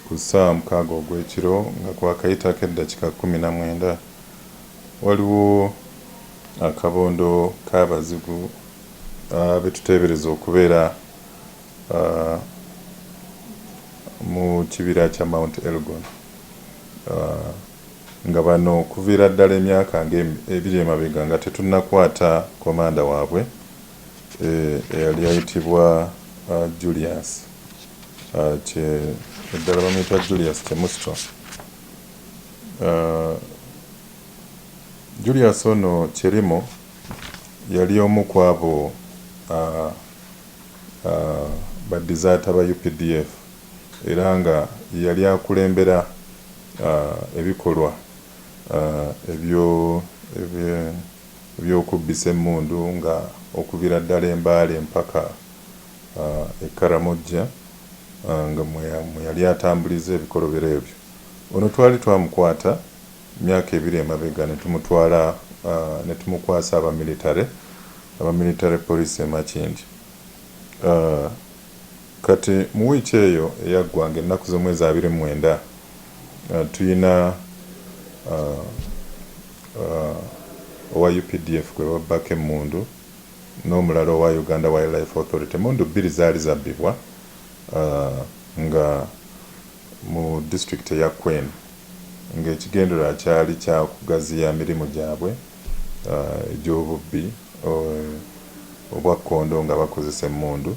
Ku ssaawa mukaaga ogw'ekiro nga kwakayitako eddakika kkumi na mwenda, waliwo akabondo k'abazigu betuteebereza okubeera mu kibira kya Mount Elgon nga bano okuviira ddala emyaka nga ebiri emabega nga tetunnakwata komanda waabwe, eyali ayitibwa Julius kye eddala bamuyita Julius Chemusto. Julius ono Chelimo yali omu ku abo ba dizaata ba updf era nga ye yali akulembera ebikolwa ebyo ebye. by'okubbisa emmundu nga okuvira ddala e Mbale mpaka e Karamojja nga mweyali atambuliza ebikolobero ebyo. Ono twali twamukwata myaka ebiri emabega netumutwala netumukwasa aba military aba Military Police e Makindye. Kati mu wiiki eyo eyaggwa nga ennaku z'omwezi abiri mu mwenda Uh, tuyina uh, uh, owa updf gwe babbako emmundu n'omulala owa uganda wildlife authority emmundu bbiri zaali zabbibwa uh, nga mu disitulikiti eya queen ng'ekigendererwa kyali kya kugaziya mirimu gyabwe uh, egy'obubbi uh, obwakkondo nga bakozesa emmundu